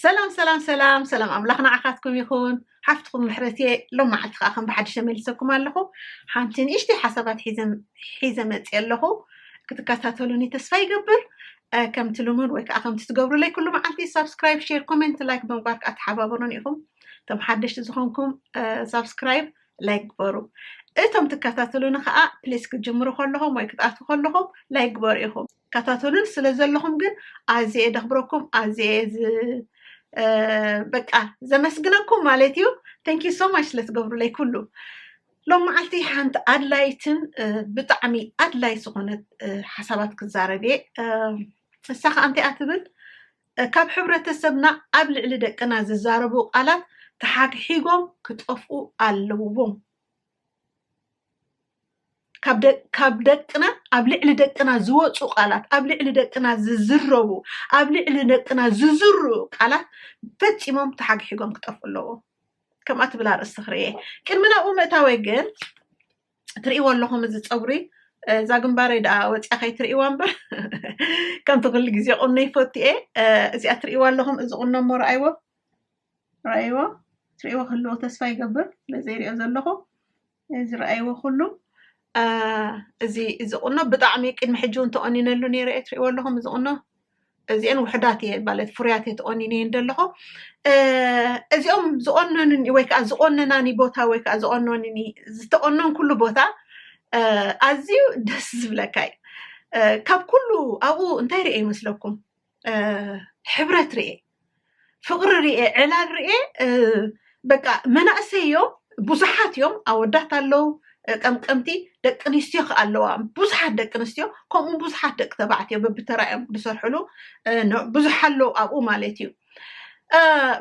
ሰላም ሰላም ሰላም ሰላም ኣምላኽ ንዓኻትኩም ይኹን ሓፍትኩም ምሕረት እየ ሎም መዓልቲ ከዓ ከም ብሓድሽ ተመልሰኩም ኣለኹ ሓንቲ ንእሽተይ ሓሳባት ሒዘ መፅእ ኣለኹ ክትከታተሉኒ ተስፋ ይገብር ከምቲ ልሙድ ወይ ከዓ ከምቲ ትገብሩለይ ኩሉ መዓልቲ ሳብስክራይብ ሼር ኮሜንት ላይክ ብምግባር ከዓ ተሓባበሩን ኢኹም እቶም ሓደሽቲ ዝኾንኩም ሳብስክራይብ ላይክ ግበሩ እቶም ትከታተሉኒ ከዓ ፕሊስ ክትጅምሩ ከለኹም ወይ ክትኣትዉ ከለኹም ላይክ ግበሩ ኢኹም ትከታተሉን ስለ ዘለኹም ግን ኣዝየ እየ ደኽብረኩም ኣዝየ እየ ዝ- እ፣ በቃ ዘመስግነኩም ማለት እዩ ተንክ ዩ ሶ ማች ስለ ትገብሩለይ ኩሉ ሎም መዓልቲ ሓንቲ ኣድላይትን እ፣ ብጣዕሚ ኣድላይ ዝኾነት እ፣ ሓሳባት ክዛረብ እየ እ፣ ንሳ ከዓ እንታይ እያ ትብል እ፣ ካብ ሕብረተሰብና ኣብ ልዕሊ ደቅና ዝዛረቡ ቃላት ተሓግሒጎም ክጠፍኡ ኣለዎም ካብ ደቅና ኣብ ልዕሊ ደቅና ዝወፁ ቃላት ኣብ ልዕሊ ደቅና ዝዝረቡ ኣብ ልዕሊ ደቅና ዝዝሩ ቃላት ፈፂሞም ተሓግሒጎም ክጠፍኡ ኣለዎ ከምኣ ትብል ኣርእስቲ ክርየ ቅድሚ ናብኡ ምእታወይ ግን ትርእይዎ ኣለኹም እዚ ፀጉሪ እዛ ግንባረይ ደኣ ወፅያ ከይትርእይዋ እምበር ከምቲ ኩሉ ግዜ ቁኖ ይፈቱ እየ እዚኣ ትርእይዋ ኣለኹም እዚ ቁኖ እሞ ረኣይዎ ረኣይዎ ትርእይዎ ክህልዎ ተስፋ ይገብር ስለዘይሪኦ ዘለኹ ዝረኣይዎ ኩሉ እዚ እዚ ቁኖ ብጣዕሚ ቅድሚ ሕጂ እውን ተቆኒነሉ ነይረ እየ ትሪእዎ ኣለኹም እዚ ቁኖ እዚአን ውሕዳት እየ ማለት ፍሩያት እየ ተቆኒነየን ዘለኹ እዚኦም ዝቆነኑኒ ወይ ከዓ ዝቆነናኒ ቦታ ወይ ከዓ ዝቆነኑኒ ዝተቆነን ኩሉ ቦታ ኣዝዩ ደስ ዝብለካ እዩ ካብ ኩሉ ኣብኡ እንታይ ርአ ይመስለኩም ሕብረት ርኤ ፍቕሪ ርኤ ዕላል ርኤ በቃ መናእሰይ እዮም ብዙሓት እዮም ኣወዳት ኣለው ቀምቀምቲ ደቂ ኣንስትዮ ከዓ ኣለዋ ብዙሓት ደቂ ኣንስትዮ ከምኡ ብዙሓት ደቂ ተባዕትዮ በብተራ እዮም ዝሰርሕሉ ብዙሕ ኣለው ኣብኡ ማለት እዩ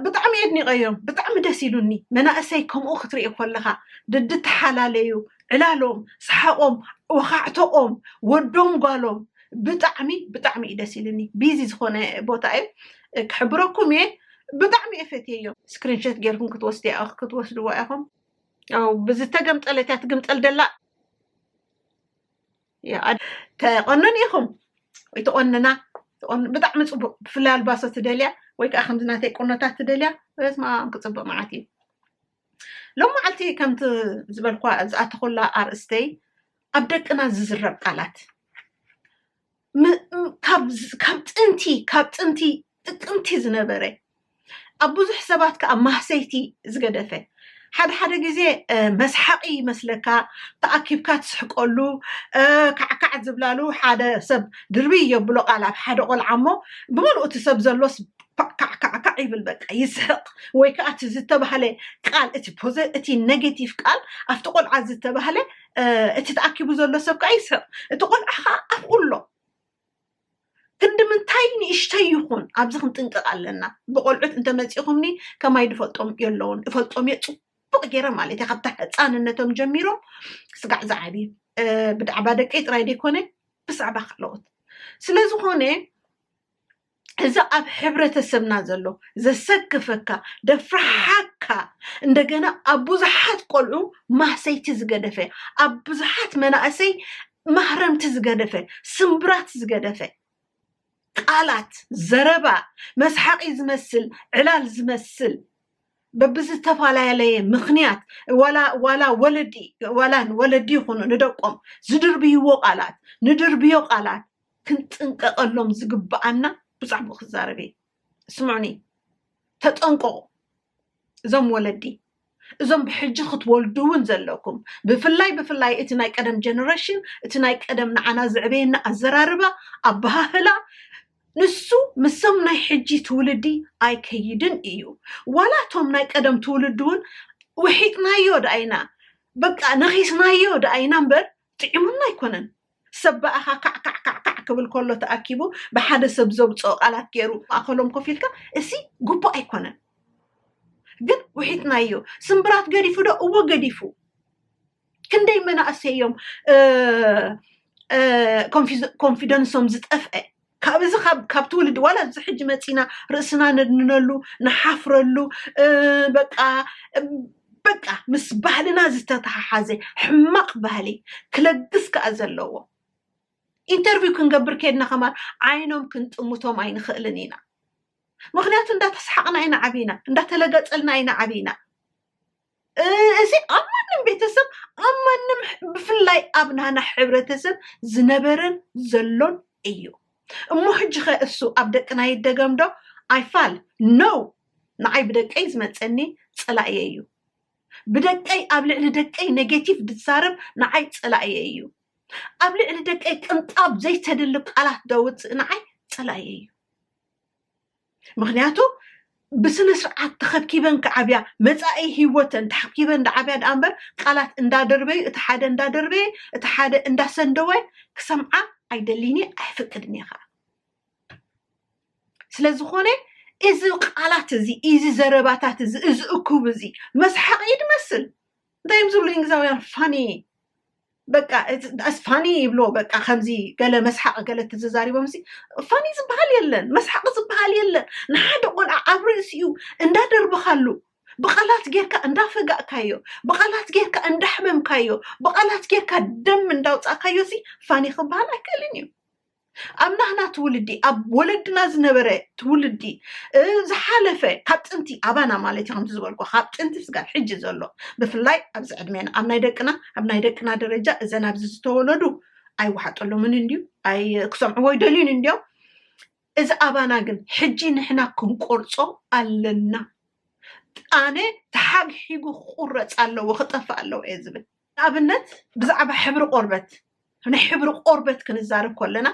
ብጣዕሚ የድኒቐዮም ብጣዕሚ ደስ ኢሉኒ መናእሰይ ከምኡ ክትርኢ ከለካ ድድተሓላለዩ ዕላሎም ሰሓቆም ወኻዕቶኦም ወዶም ጓሎም ብጣዕሚ ብጣዕሚ እዩ ደስ ኢልኒ ቢዚ ዝኾነ ቦታ እዩ ክሕብረኩም እየ ብጣዕሚ እየ ፈትየዮ ስክሪንሸት ጌርኩም ክትወስድ ክትወስድዋ ኢኹም ብዝተገምጠለት እያ ትግምጠል ደላ ተቆነን ኢኹም ወይ ተቆንና ብጣዕሚ ፅቡቅ ብፍላይ ኣልባሶ ትደልያ ወይ ከዓ ከምዚ ናተይ ቁኖታት ትደልያ በስማ ክፅቡቅ መዓት እዩ ሎማዓልቲ ከምቲ ዝበልኳ ዝኣተኹላ ኣርእስተይ ኣብ ደቅና ዝዝረብ ቃላት ካብ ጥንቲ ካብ ጥንቲ ጥቅምቲ ዝነበረ ኣብ ብዙሕ ሰባት ከዓ ማህሰይቲ ዝገደፈ ሓደ ሓደ ግዜ መስሓቂ ይመስለካ ተኣኪብካ ትስሕቀሉ ካዕካዕ ዝብላሉ ሓደ ሰብ ድርብይ የብሎ ቃል ኣብ ሓደ ቆልዓ እሞ ብምልኡ እቲ ሰብ ዘሎስ ካዕካዕካዕ ይብል በቃ ይስሕቕ ወይ ከዓ እቲ ዝተባህለ ቃል እቲ ፖዘ እቲ ኔጌቲቭ ቃል ኣብቲ ቆልዓ ዝተባህለ እ፣ እቲ ተኣኪቡ ዘሎ ሰብ ከዓ ይስሕቕ እቲ ቆልዓ ከዓ ኣብኡ ኣሎ ክንዲ ምንታይ ንእሽተይ ይኹን ኣብዚ ክንጥንቀቕ ኣለና ብቆልዑት እንተመፂኹምኒ ከማይ ድፈልጦም የለውን እፈልጦም እየ ፅቡቅ ገይረ ማለት እየ ካብታ ህፃንነቶም ጀሚሮም ስጋዕ ዝዓቢ እ፣ ብዛዕባ ደቀይ ጥራይ ዘይኮነ ብዛዕባ ካልኦት ስለዝኾነ እዚ ኣብ ሕብረተሰብና ዘሎ ዘሰክፈካ ደፍርሓካ እንደገና ኣብ ብዙሓት ቆልዑ ማህሰይቲ ዝገደፈ ኣብ ብዙሓት መናእሰይ ማህረምቲ ዝገደፈ ስምብራት ዝገደፈ ቃላት ዘረባ መስሓቂ ዝመስል ዕላል ዝመስል በብዝተፈላለየ ምክንያት ዋላ ዋላ ወለዲ ዋላ ወለዲ ይኹኑ ንደቆም ዝድርብይዎ ቃላት ንድርብዮ ቃላት ክንጥንቀቐሎም ዝግብኣና ብዛዕባኡ ክዛረብ እየ ስምዑኒ ተጠንቀቑ እዞም ወለዲ እዞም ብሕጂ ክትወልዱ እውን ዘለኩም ብፍላይ ብፍላይ እቲ ናይ ቀደም ጀነሬሽን እቲ ናይ ቀደም ንዓና ዝዕበየና ኣዘራርባ ኣበሃህላ ንሱ ምሶም ናይ ሕጂ ትውልዲ ኣይከይድን እዩ ዋላ እቶም ናይ ቀደም ትውልዲ እውን ውሒጥናዮ ደኣይና በቃ ነኺስናዮ ደኣይና እምበር ጥዒሙና ኣይኮነን ሰብ ብኣኻ ካዕካዕካዕካዕ ክብል ከሎ ተኣኪቡ ብሓደ ሰብ ዘውጽኦ ቃላት ገይሩ ማእኸሎም ኮፍ ኢልካ እሲ ግቡእ ኣይኮነን ግን ውሒጥናዮ ስምብራት ገዲፉ ዶ እወ ገዲፉ ክንደይ መናእሰይ እዮም ኮንፊደንሶም ዝጠፍአ ካብ እዚ ካብ ካብ ትውልዲ ዋላ እዚ ሕጂ መፂና ርእስና ነድንነሉ ንሓፍረሉ እ፣ በቃ እ፣ በቃ ምስ ባህልና ዝተተሓሓዘ ሕማቕ ባህሊ ክለግስ ከዓ ዘለዎ ኢንተርቪው ክንገብር ከድና ከማን ዓይኖም ክንጥምቶም ኣይንኽእልን ኢና ምክንያቱ እንዳተሰሓቕና ኢና ዓብና እንዳተለገፀልና ኢና ዓብና እዚ ኣብ ማንም ቤተሰብ ኣብ ማንም ብፍላይ ኣብ ናህና ሕብረተሰብ ዝነበረን ዘሎን እዩ እሞ ሕጂ ኸ እሱ ኣብ ደቅና ይደገም ዶ ኣይፋል ኖው ንዓይ ብደቀይ ዝመፀኒ ፀላእየ እዩ ብደቀይ ኣብ ልዕሊ ደቀይ ኔጌቲቭ ድዛረብ ንዓይ ፀላእየ እዩ ኣብ ልዕሊ ደቀይ ቅንጣብ ዘይተድሊ ቃላት ደውፅእ ንዓይ ፀላእየ እዩ ምክንያቱ ብስነ ስርዓት ተኸብኪበን ክዓብያ መፃኢ ሂወተን ተሓኪበን ዳዓብያ ዳኣ እምበር ቃላት እንዳደርበዩ እቲ ሓደ እንዳደርበየ እቲ ሓደ እንዳሰንደወ ክሰምዓ ኣይደሊን እየ ኣይፍቅድን እየ ከዓ ስለዝኾነ እዚ ቃላት እዚ እዚ ዘረባታት እዚ እዚ እኩብ እዚ መስሓቂ ይመስል እንታይ እዮም ዝብሉ እንግዛውያን ፋኒ በቃ ዳስ ፋኒ ይብሎ በቃ ከምዚ ገለ መስሓቂ ገለ ተዘዛሪቦም ሲ ፋኒ ዝበሃል የለን መስሓቂ ዝበሃል የለን ንሓደ ቆልዓ ኣብ ርእሲኡ እንዳደርብኻሉ ብቃላት ጌርካ እንዳፈጋእካዮ ብቃላት ጌርካ እንዳሕመምካዮ ብቃላት ጌርካ ደም እንዳውፃእካዮ ሲ ፋኒ ክበሃል ኣይክእልን እዩ ኣብ ናህና ትውልዲ ኣብ ወለድና ዝነበረ ትውልዲ ዝሓለፈ ካብ ጥንቲ ኣባና ማለት እዩ ከምቲ ዝበልኩ ካብ ጥንቲ ስጋብ ሕጂ ዘሎ ብፍላይ ኣብዚ ዕድሜና ኣብ ናይ ደቅና ኣብ ናይ ደቅና ደረጃ እዘን ኣብዚ ዝተወለዱ ኣይወሓጠሎምን እንድዩ ክሰምዕዎ ይደልዩን እንድዮም እዚ ኣባና ግን ሕጂ ንሕና ክንቆርጾ ኣለና ኣነ ተሓግሒጉ ክቁረፅ ኣለዎ ክጠፍእ ኣለዎ እየ ዝብል ንኣብነት ብዛዕባ ሕብሪ ቆርበት ናይ ሕብሪ ቆርበት ክንዛረብ ከለና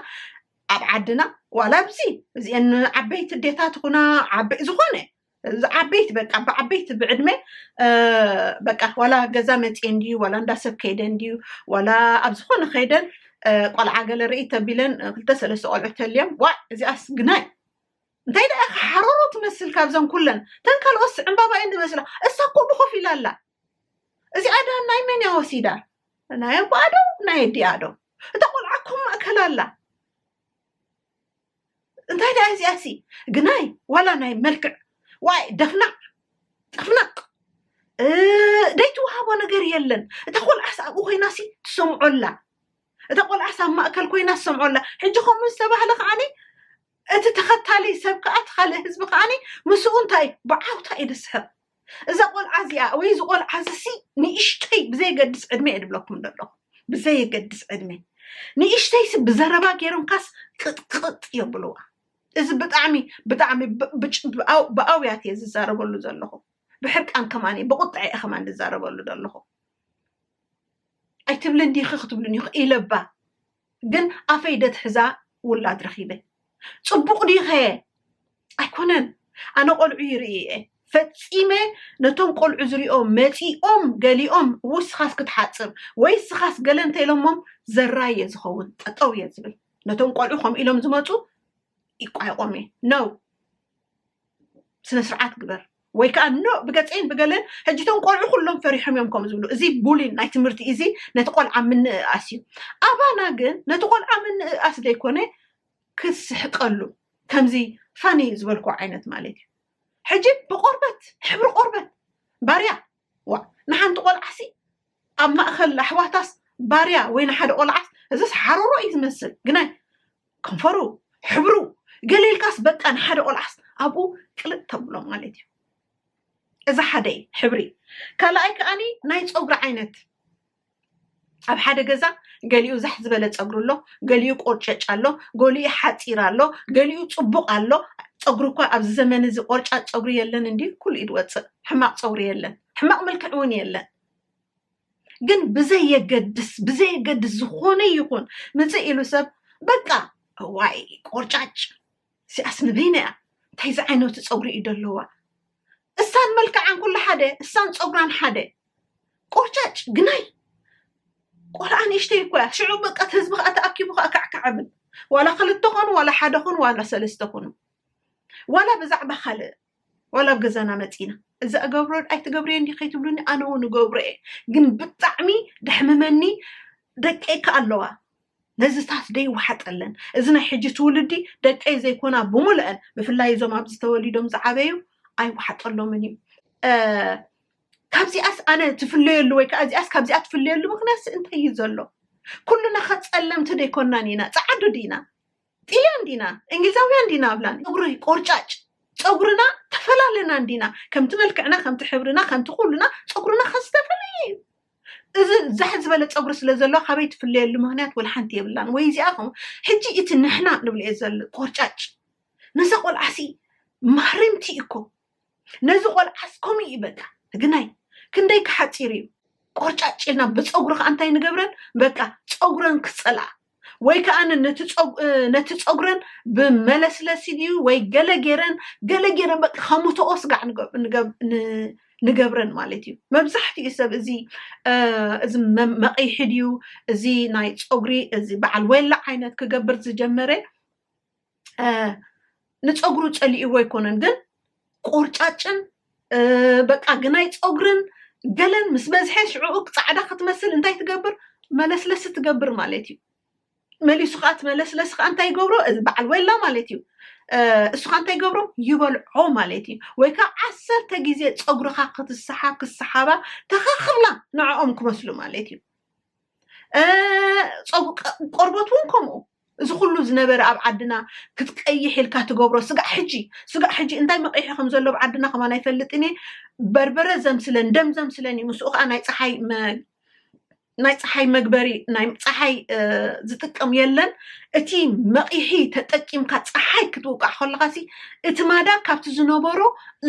ኣብ ዓድና ዋላ ኣብዚ እዚአን ዓበይቲ ዴታት ኹና ዓበይ ዝኾነ ዓበይቲ በቃ ብዓበይቲ ብዕድመ በቃ ዋላ ገዛ መፅኤን ድዩ ዋላ እንዳ ሰብ ከይደን ድዩ ዋላ ኣብ ዝኾነ ከይደን ቆልዓ ገለ ርኢ ተቢለን ክልተ ሰለስተ ቆልዑ ተልዮም ዋ እዚኣስ ግናይ እንታይ ደኣ ሓሮሮ ትመስል ካብዘን ኩለን ተን ካልኦት ዕምባባ እየን ዝመስላ እሳ ኮ ብኮፍ ኢላ ኣላ እዚኣ ዳን ናይ መን እያ ወሲዳ ናይ ኣቦኣ ዶ ናይ ኣዲኣ ዶ እታ ቆልዓ እኮ ማእከል ኣላ እንታይ ደኣ እዚኣሲ ግናይ ዋላ ናይ መልክዕ ዋይ ደፍናቅ ጠፍናቅ ደይትወሃቦ ነገር የለን እታ ቆልዓስ ኣብኡ ኮይናሲ ትሰምዖላ እታ ቆልዓስ ኣብ ማእከል ኮይና ትሰምዖላ ሕጂ ከምኡ ዝተባህለ ከዓኒ እቲ ተኸታሊ ሰብ ከዓ ተኻሊ ህዝቢ ከዓኒ ምስኡ እንታይ ብዓውታ እዩ ዝስሕቅ እዛ ቆልዓ እዚኣ ወይ እዚ ቆልዓ እዚሲ ንእሽተይ ብዘየገድስ ዕድመ እየ ድብለኩም ዘለኹ ብዘየገድስ ዕድመ ንእሽተይሲ ብዘረባ ገይሮምካስ ቅጥቅጥ የብልዋ እዚ ብጣዕሚ ብጣዕሚ ብ- ብጭ- ብኣው- ብኣውያት እየ ዝዛረበሉ ዘለኹ ብሕርቃን ከማን እየ ብቁጥዐ እየ ከማን ዝዛረበሉ ዘለኹ ኣይትብልን ዲኺ ክትብልን ኢኹ ኢለባ ግን ኣፈይ ደትሕዛ ውላድ ረኺበ ፅቡቕ ዲኸ ኣይኮነን ኣነ ቆልዑ ይርኢ እየ ፈፂመ ነቶም ቆልዑ ዝሪኦ መፂኦም ገሊኦም እው ስኻስ ክትሓፅብ ወይ ስኻስ ገለ እንተኢሎሞም ዘራይ እየ ዝኸውን ጠጠው እየ ዝብል ነቶም ቆልዑ ከምኡ ኢሎም ዝመፁ ይቋይቖም እየ ነው ስነ ስርዓት ግበር ወይ ከዓ ኖ ብገፀይን ብገለን ሕጂ እቶም ቆልዑ ኩሎም ፈሪሖም እዮም ከምኡ ዝብሉ እዚ ቡሊን ናይ ትምህርቲ እዚ ነቲ ቆልዓ ምንእኣስ እዩ ኣባና ግን ነቲ ቆልዓ ምንእኣስ ዘይኮነ ክስሕቀሉ ከምዚ ፋኒ ዝበልኩ ዓይነት ማለት እዩ ሕጂ ብቆርበት ሕብሪ ቆርበት ባርያ ዋእ ንሓንቲ ቆልዓሲ ኣብ ማእኸል ኣሕዋታስ ባርያ ወይ ንሓደ ቆልዓስ እዝስ ሓሮሮ እዩ ዝመስል ግናይ ከንፈሩ ሕብሩ ገለ ኢልካስ በቃ ንሓደ ቆልዓስ ኣብኡ ቅልጥ ተብሎ ማለት እዩ እዚ ሓደ ሕብሪ ካልኣይ ከዓኒ ናይ ፀጉሪ ዓይነት ኣብ ሓደ ገዛ ገሊኡ ዛሕ ዝበለ ፀጉሪ ኣሎ ገሊኡ ቆርጨጭ ኣሎ ገሊኡ ሓፂር ኣሎ ገሊኡ ፅቡቅ ኣሎ ፀጉሪ እኳ ኣብዚ ዘመን እዚ ቆርጫጭ ፀጉሪ የለን እንዲ ኩሉ ኢድ ወፅእ ሕማቅ ፀጉሪ የለን ሕማቅ መልክዕ እውን የለን ግን ብዘየገድስ ብዘየገድስ ዝኾነ ይኹን ምፅእ ኢሉ ሰብ በቃ ዋይ ቆርጫጭ እዚኣስ ንበይና እያ እንታይ ዝዓይነቱ ፀጉሪ እዩ ደለዋ እሳን መልክዓን ኩሉ ሓደ እሳን ፀጉራን ሓደ ቆርጫጭ ግናይ ቆልዓ ንእሽተይ እኮ እያ ሽዑ በቀት ህዝቢ ከዓ ተኣኪቡ ከዓ ካዕካዕብል ዋላ ክልተ ኮኑ ዋላ ሓደ ኮኑ ዋላ ሰለስተ ኮኑ ዋላ ብዛዕባ ካልእ ዋላ ኣብ ገዛና መፂና እዚ እገብሮ ኣይትገብርዮ እንዲ ከይትብሉኒ ኣነ እውን እገብሮ እየ ግን ብጣዕሚ ደሕምመኒ ደቀይ ከ ኣለዋ ነዚታት ደይወሓጠለን እዚ ናይ ሕጂ ትውልዲ ደቀይ ዘይኮና ብምልአን ብፍላይ እዞም ኣብዚ ተወሊዶም ዝዓበዩ ኣይወሓጠሎምን እዩ ካብዚኣስ ኣነ ትፍለየሉ ወይ ከዓ እዚኣስ ካብዚኣ ትፍለየሉ ምክንያት እንታይ እዩ ዘሎ ኩሉና ከፀለምቲ ደይኮናን ኢና ፀዓዱ ዲና ጥልያን ዲና እንግሊዛውያን ዲና ኣብላ ፀጉሪ ቆርጫጭ ፀጉርና ተፈላለና እንዲና ከምቲ መልክዕና ከምቲ ሕብርና ከምቲ ኩሉና ፀጉርና ከ ዝተፈለየ እዩ እዚ ዛሕ ዝበለ ፀጉሪ ስለ ዘለዎ ካበይ ትፍለየሉ ምክንያት ወላ ሓንቲ የብላን ወይ እዚኣ ከምኡ ሕጂ እቲ ንሕና ንብልኦ ዘሎ ቆርጫጭ ነዛ ቆልዓሲ ማህረምቲ እዩ እኮ ነዚ ቆልዓስ ከምኡ እዩ በቃ ግናይ ክንደይ ክሓፂር እዩ ቆርጫጭ ኢልና ብፀጉሪ ከዓ እንታይ ንገብረን በቃ ፀጉረን ክፀልኣ ወይ ከዓ ነቲ ፀጉረን ብመለስለሲ ድዩ ወይ ገለ ገይረን ገለ ገይረን በቃ ከሙተኦ ስጋዕ ንገብረን ማለት እዩ መብዛሕትኡ ሰብ እዚ እዚ መቐይሒ ድዩ እዚ ናይ ፀጉሪ እዚ በዓል ወላ ዓይነት ክገብር ዝጀመረ ንፀጉሩ ፀሊእዎ ኣይኮነን ግን ቆርጫጭን በቃ ግናይ ፀጉርን ገለን ምስ በዝሐ ሽዑኡ ፃዕዳ ክትመስል እንታይ ትገብር መለስለሲ ትገብር ማለት እዩ መሊሱ ከዓ እቲ መለስለሲ ከዓ እንታይ ይገብሮ እዚ በዓል ወላ ማለት እዩ እሱ ከዓ እንታይ ይገብሮ ይበልዖ ማለት እዩ ወይ ከዓ ዓሰርተ ግዜ ፀጉርካ ክትሰሓብ ክሰሓባ ተኸክብላ ንዕኦም ክመስሉ ማለት እዩ ቆርበት እውን ከምኡ እዚ ኩሉ ዝነበረ ኣብ ዓድና ክትቀይሕ ኢልካ ትገብሮ ስጋዕ ሕጂ ስጋዕ ሕጂ እንታይ መቂሒ ከም ዘሎ ኣብ ዓድና ከማን ኣይፈልጥን እየ በርበረ ዘምስለን ደም ዘምስለን እዩ ምስኡ ከዓ ናይ ፀሓይ ናይ ፀሓይ መግበሪ ናይ ፀሓይ ዝጥቀም የለን እቲ መቂሒ ተጠቂምካ ፀሓይ ክትውቃዕ ከለካ ሲ እቲ ማዳ ካብቲ ዝነበሮ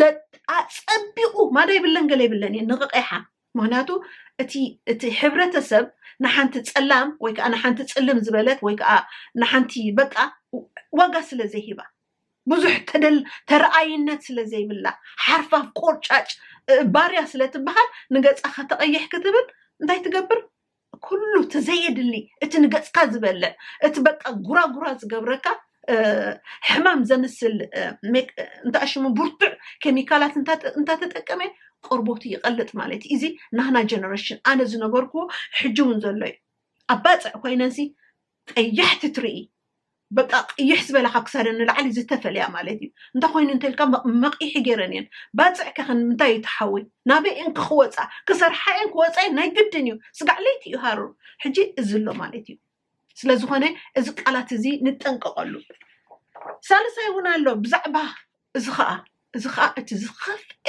ለጣ ፀቢቁ ማዳ ይብለን ገለ ይብለን እየ ንቅቂሓ ምክንያቱ እቲ እቲ ሕብረተሰብ ንሓንቲ ጸላም ወይ ከዓ ንሓንቲ ጽልም ዝበለት ወይ ከዓ ንሓንቲ በቃ ዋጋ ስለ ዘይሂባ ብዙሕ ተደል ተረኣይነት ስለ ዘይብላ ሓርፋፍ ቆርጫጭ እ፣ ባርያ ስለ ትበሃል ንገጻ ከተቐይሕ ክትብል እንታይ ትገብር ኩሉ እቲ ዘየድሊ እቲ ንገፅካ ዝበልዕ እቲ በቃ ጉራጉራ ዝገብረካ እ፣ ሕማም ዘምስል እ፣ ሜክ- እ፣ እንታይ ሽሙ ብርቱዕ ኬሚካላት እንተ- እንተተጠቀመ ቆርቦቱ ይቐልጥ ማለት እዩ እዚ ናህና ጀነሬሽን ኣነ ዝነበርኩዎ ሕጂ እውን ዘሎ እዩ ኣብ ባፅዕ ኮይነንሲ ቀያሕቲ ትርኢ በቃ ቅይሕ ዝበላ ካብ ክሳደን ንላዕሊ ዝተፈለያ ማለት እዩ እንታይ ኮይኑ እንተልካ መቂሒ ገይረን እየን ባፅዕ ከ ምንታይ እዩ ተሓወይ ናበይ እየን ከ ክወፃ ክሰርሓ እየን ክወፃ እየን ናይ ግድን እዩ ስጋዕ ለይቲ እዩ ሃሩር ሕጂ እዚ ኣሎ ማለት እዩ ስለዝኾነ እዚ ቃላት እዚ ንጠንቀቀሉ ሳልሳይ እውን ኣሎ ብዛዕባ እዚ ኸኣ እዚ ኸኣ እቲ ዝኸፍኤ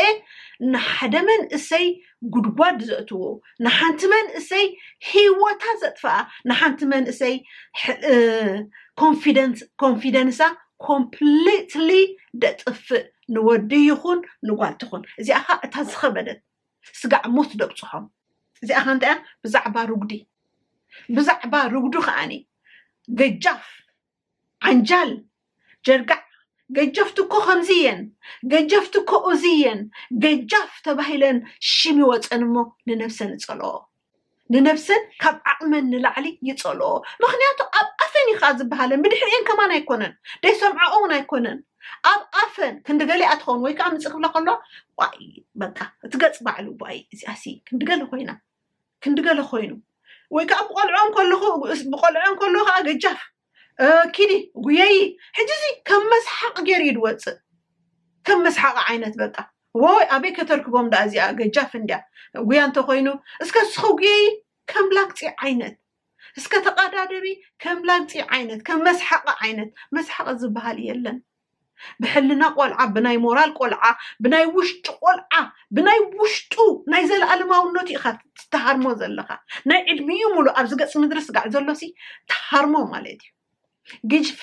ንሓደ መንእሰይ ጉድጓድ ዘእትዎ ንሓንቲ መንእሰይ ሂወታ ዘጥፍኣ ንሓንቲ መንእሰይ ኮንፊደንስ ኮንፊደንሳ ኮምፕሊትሊ ደጥፍእ ንወዲ ይኹን ንጓል ትኹን እዚኣ ኸኣ እታ ዝኸበደት ስጋዕ ሞት ደብጽሖም እዚኣ ኸ እንታይ እያ ብዛዕባ ርጉዲ ብዛዕባ ርጉዲ ኸኣኒ ገጃፍ ዓንጃል ጀርጋዕ ገጀፍቲ እኮ ከምዚ እየን ገጀፍቲ እኮ እዚ እየን ገጃፍ ተባሂለን ሽም ይወፀን እሞ ንነብሰን እፀልኦ ንነብሰን ካብ ዓቕመን ንላዕሊ ይፀልኦ ምክንያቱ ኣብ ኣፈን ይካ ዝበሃለን ብድሕሪኤን ከማን ኣይኮነን ደይሰምዐኦ እውን ኣይኮነን ኣብ ኣፈን ክንዲ ገሊኣ ትኸውን ወይ ከዓ ምፅ ክብላ ከሎ ዋይ በቃ እቲ ገፅ ባዕሉ ዋይ እዚኣሲ ክንዲ ገለ ኮይና ክንዲ ገለ ኮይኑ ወይ ከዓ ብቆልዑ እንከለኹ ብቆልዑ እንከለኹ ከዓ ገጃፍ ኪዲ ጉየይ ሕጂ እዚ ከም መስሓቅ ገይሩ እዩ ዝወፅእ ከም መስሓቅ ዓይነት በቃ ወይ ኣበይ ከተርክቦም ዳኣ እዚኣ ገጃፍ እንድያ ጉያ እንተኮይኑ እስከ ንስኺ ጉየይ ከም ላግፂ ዓይነት እስከ ተቀዳደቢ ከም ላግፂ ዓይነት ከም መስሓቅ ዓይነት መስሓቅ ዝበሃል የለን ብሕልና ቆልዓ ብናይ ሞራል ቆልዓ ብናይ ውሽጢ ቆልዓ ብናይ ውሽጡ ናይ ዘለኣለማውነቱ ኢኻ ትሃርሞ ዘለኻ ናይ ዕድሚኡ ሙሉእ ኣብዚ ገፅ ምድሪ ስጋዕ ዘሎሲ ትሃርሞ ማለት እዩ ግጅፊ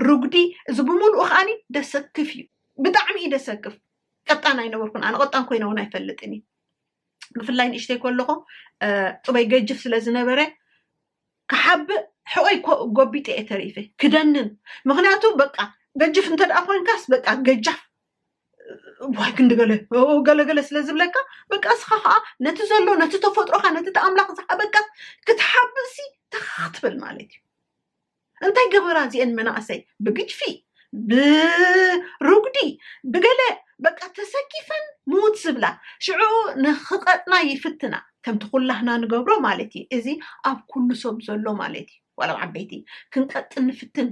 ርጉዲ እዚ ብምሉኡ ከዓኒ ደሰክፍ እዩ ብጣዕሚ እዩ ደሰክፍ ቀጣን ኣይነበርኩን ኣነ ቀጣን ኮይነ እውን ኣይፈልጥን እዩ ብፍላይ ንእሽተይ ከለኹ ፅበይ ገጅፍ ስለ ዝነበረ ክሓብእ ሕቆይ ጎቢጠ እየ ተሪፈ ክደንን ምክንያቱ በቃ ገጅፍ እንተደኣ ኮንካስ በቃ ገጃፍ ዋይ ክንዲ ገለ ገለገለ ስለ ዝብለካ በቃ እስኻ ከዓ ነቲ ዘሎ ነቲ ተፈጥሮካ ነቲ እቲ ኣምላኽ ዝሃበካ ክትሓብእሲ ተኻኽ ትብል ማለት እዩ እንታይ ገበራ እዚኤን መናእሰይ ብግጅፊ ብሩጉዲ ብገለ በቃ ተሰኪፈን ምውት ዝብላ ሽዑ ንክቀጥና ይፍትና ከምቲ ኩላህና ንገብሮ ማለት እዩ እዚ ኣብ ኩሉ ሰብ ዘሎ ማለት እዩ ዋላ ኣብ ዓበይቲ ክንቀጥን ንፍትን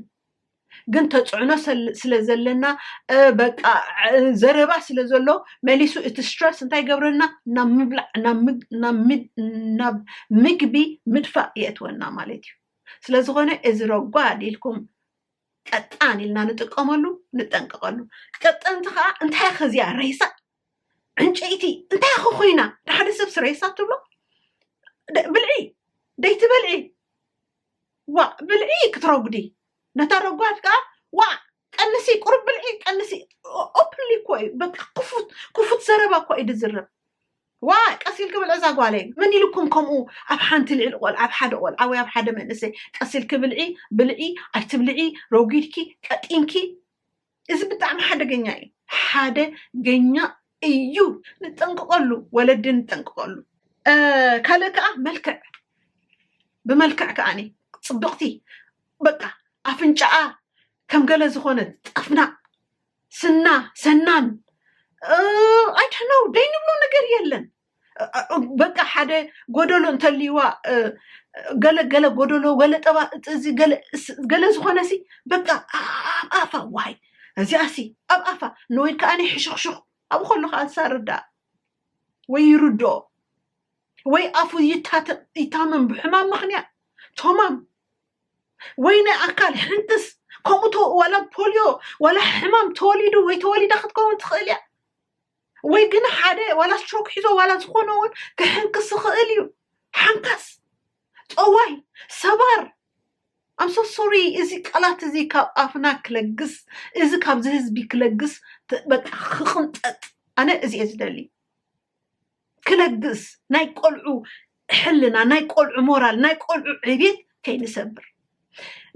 ግን ተፅዕኖ ስለ ዘለና በቃ ዘረባ ስለ ዘሎ መሊሱ እቲ ስትረስ እንታይ ገብረና ናብ ምግቢ ምድፋእ የእትወና ማለት እዩ ስለዝኾነ እዚ ረጓድ ኢልኩም ቀጣን ኢልና ንጥቀመሉ ንጠንቀቐሉ ቀጠንቲ ከዓ እንታይ ከዚያ ሬሳ ዕንጨይቲ እንታይ ኸ ኮይና ንሓደ ሰብ ስረየሳ ትብሎ ብልዒ ደይቲ በልዒ ዋ ብልዒ ክትረጉዲ ነታ ረጓድ ከዓ ዋ ቀንሲ ቁሩብ ብልዒ ቀንሲ ኦፕንሊ እኮ እዩ በቃ ክፉት ክፉት ዘረባ እኮ እዩ ድዝረብ ዋ ቀስ ኢልኪ ብልዒ እዛ ጓለይ መን ኢልኩም ከምኡ ኣብ ሓንቲ ልዕሊ ቆልዓ ኣብ ሓደ ቆልዓ ወይ ኣብ ሓደ መንእሰይ ቀስ ኢልኪ ብልዒ ብልዒ ኣይትብልዒ ረጒድኪ ቀጢንኪ እዚ ብጣዕሚ ሓደገኛ እዩ ሓደገኛ እዩ ንጠንቅቀሉ ወለዲ ንጠንቅቀሉ እ፣ ካልእ ከዓ መልክዕ ብመልክዕ ከዓኒ ፅብቕቲ በቃ ኣፍንጫኣ ከም ገለ ዝኾነት ጸፍናቕ ስና ሰናን ኣይድሕነው ደይ ንብሎ ነገር የለን በቃ ሓደ ጎደሎ እንተልይዋ ገለ ገለ ጎደሎ ገለ ጠባ እዚ ገለ እስ- ገለ ዝኾነ ሲ በቃ ኣብ ኣፋ ዋይ እዚኣ ሲ ኣብ ኣፋ ንወይ ከዓኒ ሕሹኽሹኽ ኣብኡ ከሎ ከዓ ዝሳርዳ ወይ ይርድኦ ወይ ኣፉ ይታተ ይታመም ብሕማም ምክንያት ቶማም ወይ ናይ ኣካል ሕንትስ ከምኡ ተ- ዋላ ፖልዮ ዋላ ሕማም ተወሊዱ ወይ ተወሊዳ ክትከውን ትኽእል እያ ወይ ግን ሓደ ዋላ ስትሮክ ሒዞ ዋላ ዝኾነ እውን ክሕንክስ ይኽእል እዩ ሓንካስ ጠዋይ ሰባር ኣምሶ ሶሪ እዚ ቃላት እዚ ካብ ኣፍና ክለግስ እዚ ካብዚ ህዝቢ ክለግስ ት- በቃ ክቕንጠጥ ኣነ እዚ እየ ዝደሊ ክለግስ ናይ ቆልዑ ሕልና ናይ ቆልዑ ሞራል ናይ ቆልዑ ዕቤት ከይንሰብር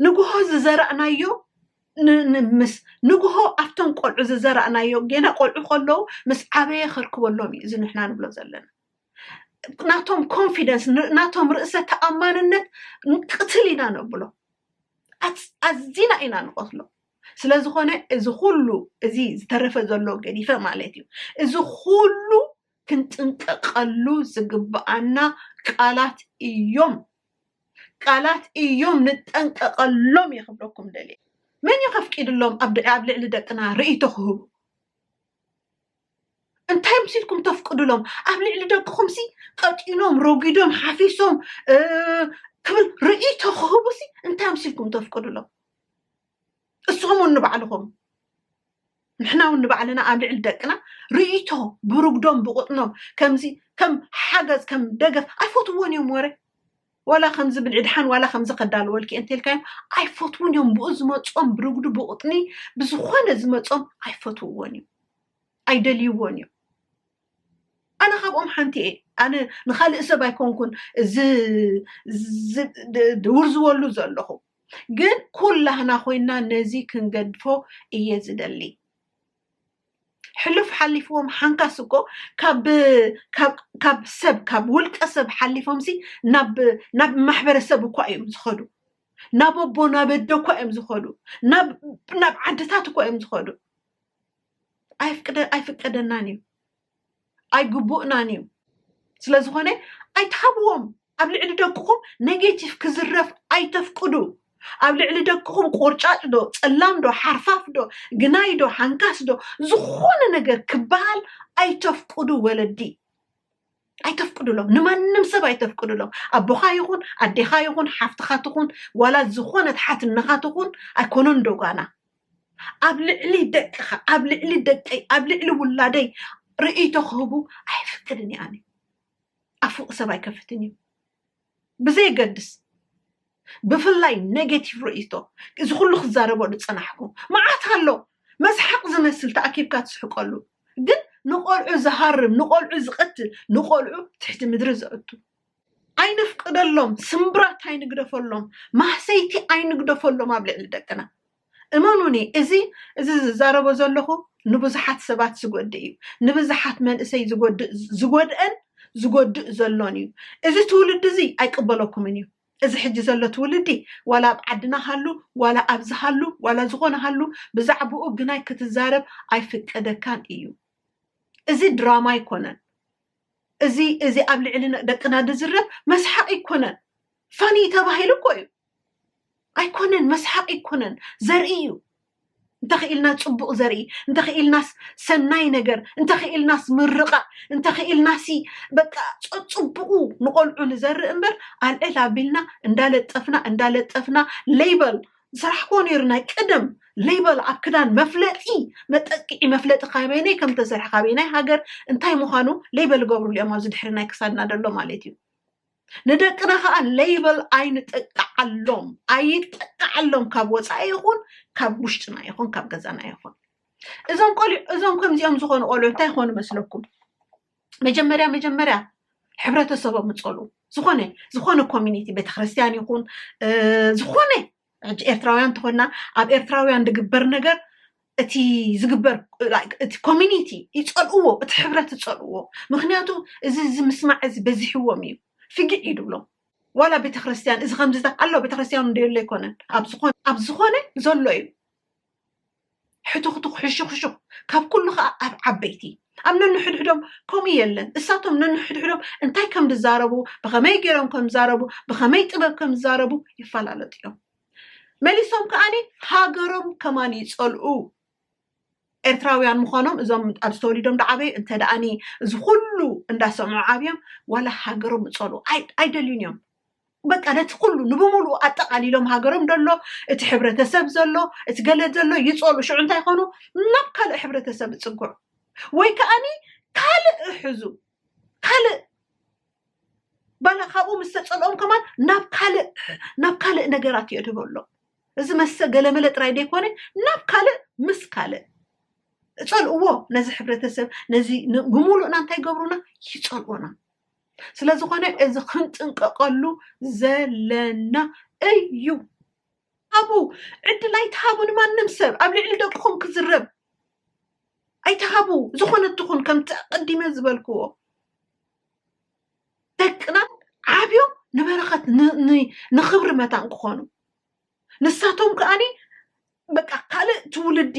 ንግሆ ዝዘራእናዮ ምስ ንግሆ ኣብቶም ቆልዑ ዝዘራእናዮ ጌና ቆልዑ ከለዉ ምስ ዓበየ ከርክበሎም እዩ እዚ ንሕና ንብሎ ዘለና ናቶም ኮንፊደንስ ናቶም ርእሰ ተኣማንነት ቅትል ኢና ነብሎ ኣዝና ኢና ንቐትሎ ስለዝኾነ እዚ ኩሉ እዚ ዝተረፈ ዘሎ ገዲፈ ማለት እዩ እዚ ኩሉ ክንጥንቀቀሉ ዝግብኣና ቃላት እዮም ቃላት እዮም ንጠንቀቀሎም እየ ክብለኩም ደልየ መን እዩ ከፍቂድሎም ኣብ ልዕሊ ደቅና ርእይቶ ክህቡ እንታይ ምሲልኩም ተፍቅዱሎም ኣብ ልዕሊ ደቅኹም ሲ ቀጢኖም ረጒዶም ሓፊሶም ክብል ርእይቶ ክህቡ ሲ እንታይ ምሲልኩም ተፍቅዱሎም እስኹም እውን ንባዕልኹም ንሕና እውን ንባዕልና ኣብ ልዕሊ ደቅና ርእይቶ ብርጉዶም ብቁጥኖም ከምዚ ከም ሓገዝ ከም ደገፍ ኣይፈትዎን እዮም ወረ ዋላ ከምዚ ብልዒ ድሓን ዋላ ከምዚ ከዳልወልኪ እንተልካዮም ኣይፈትዉን እዮም ብኡ ዝመፆም ብርጉዱ ብቁጥኒ ብዝኾነ ዝመፆም ኣይፈትውዎን እዮም ኣይደልይዎን እዮም ኣነ ካብኦም ሓንቲ እየ ኣነ ንካልእ ሰብ ኣይኮንኩን ዝውርዝወሉ ዘለኹ ግን ኩላህና ኮይና ነዚ ክንገድፎ እየ ዝደሊ ሕሉፍ ሓሊፍዎም ሓንካስ እኮ ካብ ካብ ካብ ሰብ ካብ ውልቀ ሰብ ሓሊፎምሲ ናብ ናብ ማሕበረሰብ እኳ እዮም ዝኸዱ ናብ ኣቦ ናብ ኣደ እኳ እዮም ዝኸዱ ናብ ናብ ዓድታት እኳ እዮም ዝኸዱ ኣይፍቅደ ኣይፍቀደናን እዩ ኣይግቡእናን እዩ ስለዝኾነ ኣይትሃብዎም ኣብ ልዕሊ ደቅኹም ኔጌቲቭ ክዝረፍ ኣይተፍቅዱ ኣብ ልዕሊ ደቅኹም ቆርጫጭ ዶ ፀላም ዶ ሓርፋፍ ዶ ግናይ ዶ ሓንካስ ዶ ዝኾነ ነገር ክበሃል ኣይተፍቅዱ ወለዲ ኣይተፍቅዱሎም ንማንም ሰብ ኣይተፍቅዱሎም ኣቦኻ ይኹን ኣዴኻ ይኹን ሓፍትኻ ትኹን ዋላ ዝኾነት ሓትነኻ ትኹን ኣይኮነን ዶ ጓና ኣብ ልዕሊ ደቅኻ ኣብ ልዕሊ ደቀይ ኣብ ልዕሊ ውላደይ ርእይቶ ክህቡ ኣይፍቅድን እየ ኣነ ኣፍውቅ ሰብ ኣይከፍትን እዩ ብዘየገድስ ብፍላይ ኔጌቲቭ ርእይቶ እዚ ኩሉ ክዛረበሉ ፀናሕኩ መዓት ኣሎ መስሓቅ ዝመስል ተኣኪብካ ትስሕቀሉ ግን ንቆልዑ ዝሃርም ንቆልዑ ዝቀትል ንቆልዑ ትሕቲ ምድሪ ዘእቱ ኣይነፍቅደሎም፣ ስምብራት ኣይንግደፈሎም፣ ማህሰይቲ ኣይንግደፈሎም ኣብ ልዕሊ ደቅና። እመኑኒ እዚ እዚ ዝዛረቦ ዘለኹ ንብዙሓት ሰባት ዝጎድእ እዩ። ንብዙሓት መንእሰይ ዝጎድእ ዝጎድእን ዝጎድእ ዘሎን እዩ። እዚ ትውልዲ እዚ ኣይቅበለኩምን እዩ። እዚ ሕጂ ዘሎ ትውልዲ ዋላ ኣብ ዓድና ሃሉ ዋላ ኣብዚ ሃሉ ዋላ ዝኾነ ሃሉ ብዛዕብኡ ግናይ ክትዛረብ ኣይፍቀደካን እዩ። እዚ ድራማ ኣይኮነን። እዚ እዚ ኣብ ልዕሊ ደቅና ዝዝረብ መስሓቅ ኣይኮነን ፋኒ ተባሂሉ እኮ እዩ ኣይኮነን መስሓቅ ኣይኮነን ዘርኢ እዩ እንተኽኢልናስ ፅቡቕ ዘርኢ እንተኽኢልናስ ሰናይ ነገር እንተኽኢልናስ ምርቓእ እንተኽኢልናሲ በቃ ፀፅቡቑ ንቆልዑ ንዘርኢ እምበር ኣልዕል ኣቢልና እንዳለጠፍና እንዳለጠፍና ሌበል ዝሰራሕክዎ ነይሩ ናይ ቀደም ሌበል ኣብ ክዳን መፍለጢ መጠቅዒ መፍለጢ ካበይነይ ከም ተሰርሐ ካበይናይ ሃገር እንታይ ምዃኑ ሌበል ገብርሉ እዮም ኣብዚ ድሕሪ ናይ ክሳድና ደሎ ማለት እዩ ንደቅና ከዓ ሌበል ኣይንጠቅዓሎም ኣይጠቅዓሎም ካብ ወፃኢ ይኹን ካብ ውሽጥና ይኹን ካብ ገዛና ይኹን እዞም ቆልዑ እዞም ከምዚኦም ዝኾኑ ቆልዑ እንታይ ይኾኑ መስለኩም መጀመርያ መጀመርያ ሕብረተሰቦም ምፀሉ ዝኾነ ዝኾነ ኮሚኒቲ ቤተክርስትያን ይኹን ዝኾነ ሕጂ ኤርትራውያን እንተኾንና ኣብ ኤርትራውያን ዝግበር ነገር እቲ ዝግበር እቲ ኮሚኒቲ ይፀልእዎ እቲ ሕብረት ይፀልእዎ ምክንያቱ እዚ እዚ ምስማዕ እዚ በዚሕዎም እዩ ፍግዕ እዩ ድብሎም ዋላ ቤተክርስትያን እዚ ከምዚ ኣሎ ቤተክርስትያን እንደየሎ ኣይኮነን ኣብ ዝኾነ ዘሎ እዩ ሕቱኽቱኽ ሕሹኽሹኽ ካብ ኩሉ ከኣ ኣብ ዓበይቲ ኣብ ነንሕድሕዶም ከምኡ የለን እሳቶም ነንሕድሕዶም እንታይ ከም ዝዛረቡ ብኸመይ ገይሮም ከም ዝዛረቡ ብኸመይ ጥበብ ከም ዝዛረቡ ይፈላለጡ እዮም መሊሶም ከዓኒ ሃገሮም ከማን ይፀልኡ ኤርትራውያን ምዃኖም እዞም ኣብዚ ተወሊዶም ዳዓበዩ እንተ ደኣኒ እዚ ኩሉ እንዳሰምዑ ዓብዮም ዋላ ሃገሮም እፀልኡ ኣይደልዩን እዮም በቃ ነቲ ኩሉ ንብምሉኡ ኣጠቓሊሎም ሃገሮም ደሎ እቲ ሕብረተሰብ ዘሎ እቲ ገለ ዘሎ ይፀሉ ሽዑ እንታይ ይኾኑ ናብ ካልእ ሕብረተሰብ ይፅግዑ ወይ ከዓኒ ካልእ እሕዙ ካልእ ባላ ካብኡ ምስ ተፀልኦም ከማን ናብ ካልእ ናብ ካልእ ነገራት የድህቦ ኣሎ እዚ መሰ ገለመለ ጥራይ ዘይኮነ ናብ ካልእ ምስ ካልእ እፀልእዎ ነዚ ሕብረተሰብ ነዚ ን- ብምሉእና እንታይ ይገብሩና ይፀልኡና ስለዝኾነ እዚ ክንጥንቀቐሉ ዘለና እዩ ሃቡ ዕድል ኣይትሃቡ ንማንም ሰብ ኣብ ልዕሊ ደቅኹም ክዝረብ ኣይትሃቡ ዝኾነ ትኹን ከምቲ ኣቀዲመ ዝበልክዎ ደቅና ዓብዮም ንበረኸት ን- ን- ንኽብሪ መታን ክኾኑ ንሳቶም ከኣኒ በቃ ካልእ ትውልዲ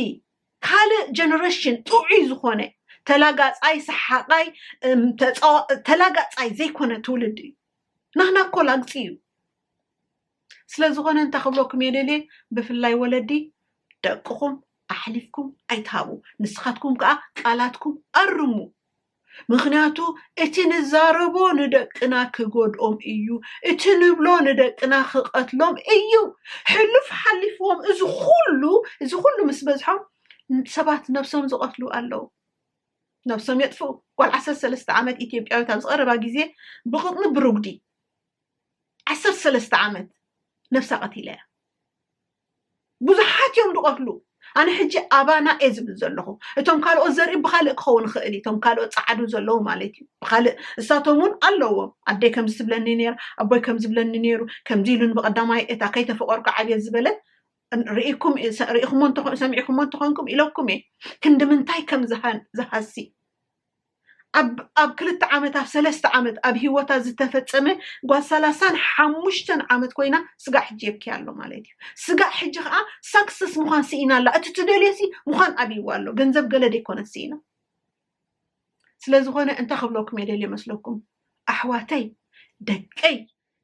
ካልእ ጀነሬሽን ጥዑይ ዝኾነ ተላጋፃይ ሰሓቓይ እም፣ ተፃዋ- ተላጋፃይ ዘይኮነ ትውልዲ እዩ ናህና እኮ ላግፂ እዩ ስለዝኾነ እንታይ ክብለኩም እየ ደልየ ብፍላይ ወለዲ ደቅኹም ኣሕሊፍኩም ኣይትሃቡ ንስኻትኩም ከዓ ቃላትኩም ኣርሙ ምኽንያቱ እቲ ንዛረቦ ንደቅና ክጎድኦም እዩ፣ እቲ ንብሎ ንደቅና ክቐትሎም እዩ። ሕሉፍ ሓሊፍዎም እዚ ኹሉ እዚ ኹሉ ምስ በዝሖም ሰባት ነብሶም ዝቐትሉ ኣለዉ። ነብሶም የጥፍኡ። ጓል ዓሰርተ ሰለስተ ዓመት ኢትዮጵያዊት ኣብዚ ቀረባ ግዜ ብቕጥኒ ብሩጉዲ ዓሰርተ ሰለስተ ዓመት ነብሳ ቀቲላ እያ። ብዙሓት እዮም ዝቐትሉ ኣነ ሕጂ ኣባና እየ ዝብል ዘለኹ እቶም ካልኦት ዘርኢ ብካልእ ክኸውን ይኽእል እዩ እቶም ካልኦት ፃዓዱ ዘለዉ ማለት እዩ ብካልእ እሳቶም እውን ኣለዎም ኣደይ ከምዚ ትብለኒ ነይራ ኣቦይ ከምዚ ዝብለኒ ነይሩ ከምዚ ኢሉን ብቐዳማይ እታ ከይተፈቐርኩ ዓብየት ዝበለት ርኢኩም ርኢኹሞ ሰሚዕኹሞ እንተኾንኩም ኢለኩም እየ ክንዲ ምንታይ ከም ዝሃሲ ኣብ ኣብ ክልተ ዓመት ኣብ ሰለስተ ዓመት ኣብ ሂወታ ዝተፈጸመ ጓል ሰላሳን ሓሙሽተን ዓመት ኮይና ስጋዕ ሕጂ የብኪያ ኣሎ ማለት እዩ ስጋዕ ሕጂ ከዓ ሳክሰስ ምዃን ስኢና ኣላ እቲ ትደልዮሲ ምዃን ኣብይዋ ኣሎ ገንዘብ ገለ ደይኮነት ስኢና ስለዝኾነ እንታይ ክብለኩም እየ ደልየ መስለኩም ኣሕዋተይ ደቀይ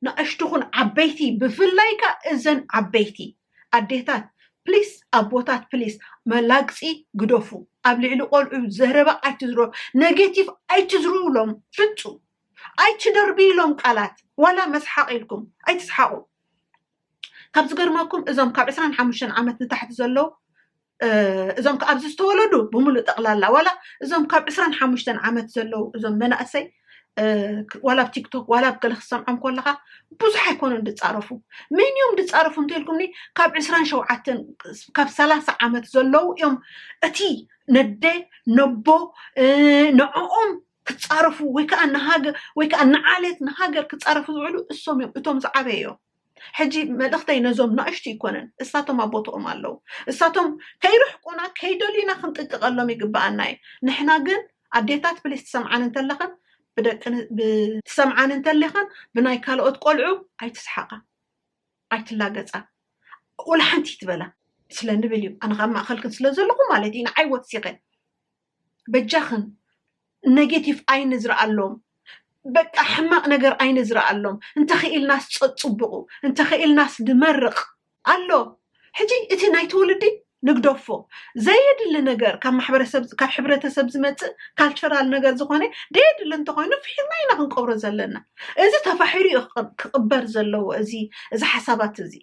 ንኣሽቱ ኹን ዓበይቲ ብፍላይ ከኣ እዘን ዓበይቲ ኣዴታት ፕሊስ ኣቦታት ፕሊስ መላግጺ ግደፉ ኣብ ልዕሊ ቆልዑ ዘረባ ኣይትዝረቡ ነጌቲቭ ኣይትዝርውሎም ፍጹም ኣይትደርብይሎም ቃላት ዋላ መስሓቅ ኢልኩም ኣይትስሓቁ ካብ ዝገርመኩም እዞም ካብ ዕስራን ሓሙሽተን ዓመት ንታሕቲ ዘለዉ እዞም ከ ኣብዚ ዝተወለዱ ብምሉእ ጠቕላላ ዋላ እዞም ካብ ዕስራን ሓሙሽተን ዓመት ዘለው እዞም መናእሰይ ዋላ ኣብ ቲክቶክ ዋላ ኣብ ገለ ክሰምዖም ከለካ ብዙሕ ኣይኮኑን ድፃረፉ መን እዮም ድፃረፉ እንተልኩምኒ ካብ ዕስራን ሸውዓተን ካብ ሰላሳ ዓመት ዘለው እዮም እቲ ነደ ነቦ ንዕኦም ክፃረፉ ወይ ከዓ ንሃገር ወይ ከዓ ንዓሌት ንሃገር ክፃረፉ ዝውዕሉ እሶም እዮም እቶም ዝዓበየ እዮም ሕጂ መልእኽተይ ነዞም ናእሽቱ ይኮነን እሳቶም ኣብ ቦትኦም ኣለው እሳቶም ከይርሕቁና ከይደልዩና ክንጥንቀቐሎም ይግበኣና እዩ ንሕና ግን ኣዴታት ፕሊስ ትሰምዓን እንተለኽን ብደቂ ትሰምዓን እንተለኽን ብናይ ካልኦት ቆልዑ ኣይትስሓቃ ኣይትላገጻ ወላ ሓንቲ ይትበላ ስለ ንብል እዩ ኣነ ካብ ማእኸልክን ስለ ዘለኹ ማለት እዩ ንዓይ ወሲኸ በጃኽን ነጌቲቭ ኣይንዝርኣሎም በቃ ሕማቅ ነገር ኣይንዝርኣሎም እንተኺኢልናስ ጸጽቡቁ እንተኺኢልናስ ንመርቅ ኣሎ ሕጂ እቲ ናይ ትውልዲ ንግደፎ ዘየድሊ ነገር ካብ ማሕበረሰብ ካብ ሕብረተሰብ ዝመጽእ ካልቸራል ነገር ዝኾነ ደየድሊ እንተኾይኑ ፍሒርና ኢና ክንቀብሮ ዘለና እዚ ተፋሒሩ እዩ ክቅ- ክቅበር ዘለዎ እዚ እዚ ሓሳባት እዚ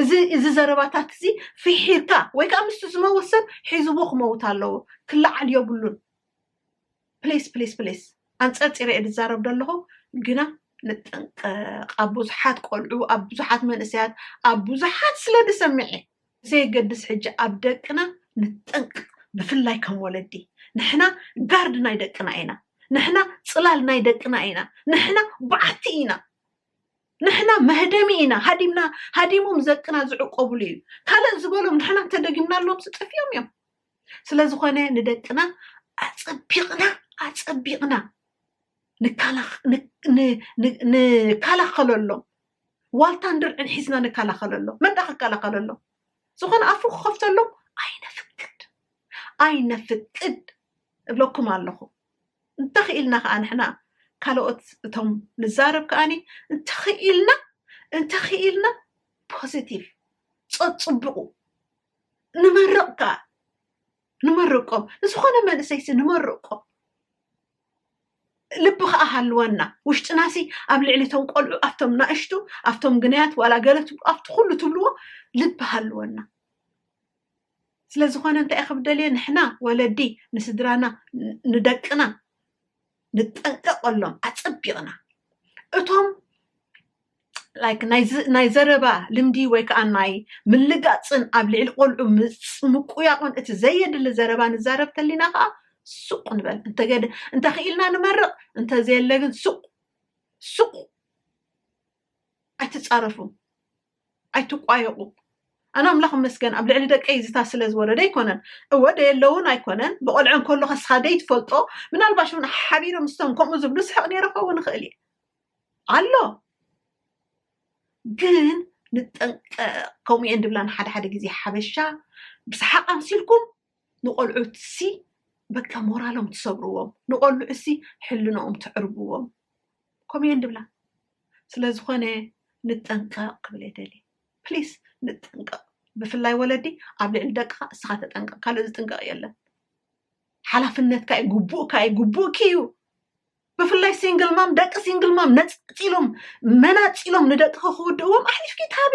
እዚ እዚ ዘረባታት እዚ ፍሒርካ ወይ ከዓ ምስቲ ዝመውት ሰብ ሒዝዎ ክመውት ኣለዎ ክለዓል የብሉን ፕሊስ ፕሊስ ፕሊስ ኣንፀርፂረ እየ ዝዛረብ ዘለኹ ግና ንጠንቀቕ ኣብ ብዙሓት ቆልዑ ኣብ ብዙሓት መንእሰያት ኣብ ብዙሓት ስለ ዝሰምዐ ብዘየገድስ ሕጂ ኣብ ደቅና ንጠንቀቕ ብፍላይ ከም ወለዲ ንሕና ጋርድ ናይ ደቅና ኢና ንሕና ፅላል ናይ ደቅና ኢና ንሕና በዓቲ ኢና ንሕና መህደሚ ኢና ሃዲምና ሃዲሞም ዘቅና ዝዕቆብሉ እዩ ካልእ ዝበሎም ንሕና እንተደጊምናሎምሲ ጥፊኦም እዮም ስለዝኾነ ንደቅና ኣፀቢቕና ኣፀቢቕና ንከላኸለሎም ዋልታን ድርዕን ሒዝና ንከላኸለሎም መን ዳ ክከላኸለሎም ዝኾነ ኣፉ ክኸፍተሎም ኣይነፍቅድ ኣይነፍቅድ እብለኩም ኣለኹ እንተኽኢልና ከኣ ንሕና ካልኦት እቶም ንዛረብ ከኣ እንተኽኢልና እንተኽኢልና ፖዘቲቭ ጸጽቡቑ ንመርቕ ከኣ ንመርቆም ንዝኾነ መንእሰይሲ ንመርቆ ልቢ ከኣ ሃልወና ውሽጥናሲ ኣብ ልዕሊ እቶም ቆልዑ ኣብቶም ናእሽቱ ኣብቶም ግናያት ዋላ ገለ ትብሉ ኣብቲ ኩሉ ትብልዎ ልቢ ሃልወና ስለዝኾነ እንታይ ኢኸ ብደልዮ ንሕና ወለዲ ንስድራና ንደቅና ንጠንቀቐሎም ኣጸቢቕና እቶም ላይክ ናይ ዘረባ ልምዲ ወይ ከዓ ናይ ምልጋፅን ኣብ ልዕሊ ቆልዑ ምቁያቑን እቲ ዘየድሊ ዘረባ ንዛረብ ተሊና ከዓ ሱቅ ንበል እንተገደ እንተኽኢልና ንመርቕ እንተዘየለ ግን ሱቅ ሱቅ ኣይትፃረፉ ኣይትቋየቑ ኣነ ኣምላኽ መስገን ኣብ ልዕሊ ደቀይ ዝታ ስለ ዝወረደ ኣይኮነን እወ ደየለውን ኣይኮነን ብቆልዐ እንከሎ ከስኻ ደይትፈልጦ ምናልባሽ እውን ሓቢረ ምስቶም ከምኡ ዝብሉ ስሕቕ ነይረ ክኸውን ይኽእል እየ ኣሎ ግን ንጠንቀቕ ከምኡ እየን ድብላን ሓደ ሓደ ግዜ ሓበሻ ብሰሓቕ ኣምሲልኩም ንቆልዑትሲ በቃ ሞራሎም ትሰብርዎም ንቆልዑሲ ሕልንኦም ትዕርብዎም ከምኡ እየን ድብላ ስለዝኾነ ንጠንቀቕ ክብል እየ ደልየ ፕሊስ ንጠንቀቕ ብፍላይ ወለዲ ኣብ ልዕሊ ደቅኻ እስኻ ተጠንቀቕ ካልእ ዝጥንቀቕ የለን ሓላፍነትካ እዩ ግቡእካ እዩ ግቡእኪ እዩ ብፍላይ ሲንግል ማም ደቂ ሲንግል ማም ነፃፂሎም መናፂሎም ንደቅኺ ክውድእዎም ኣሕሊፍኪ ታቢ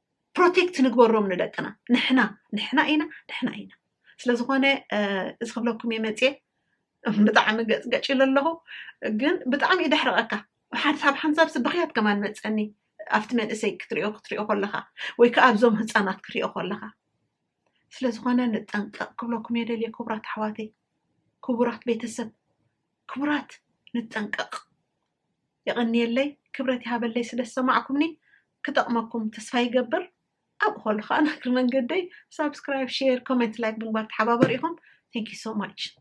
ፕሮቴክት ንግበሮም ንደቅና ንሕና ንሕና ኢና ንሕና ኢና ስለዝኾነ እዚ ክብለኩም እየ መፅየ ብጣዕሚ ገፅ ገጭ ኢለ ኣለኹ ግን ብጣዕሚ እዩ ደሕረቐካ ሓንሳብ ሓንሳብ ስብኽያት ከማን መፀኒ ኣብቲ መንእሰይ ክትሪኦ ክትሪኦ ከለኻ ወይ ከዓ ኣብዞም ህፃናት ክሪኦ ከለኻ ስለዝኾነ ንጠንቀቕ ክብለኩም እየ ደልየ ክቡራት ኣሕዋተይ ክቡራት ቤተሰብ ክቡራት ንጠንቀቕ የቐንየለይ ክብረት ይሃበለይ ስለ ዝሰማዕኩምኒ ክጠቕመኩም ተስፋ ይገብር ኣብኡ ከሉ ከዓ ናግሪ መንገደይ ሳብስክራይብ ሼር ኮሜንት ላይክ ብምግባር ተሓባበሩ ኢኹም ቴንክ ዩ ሶ ማች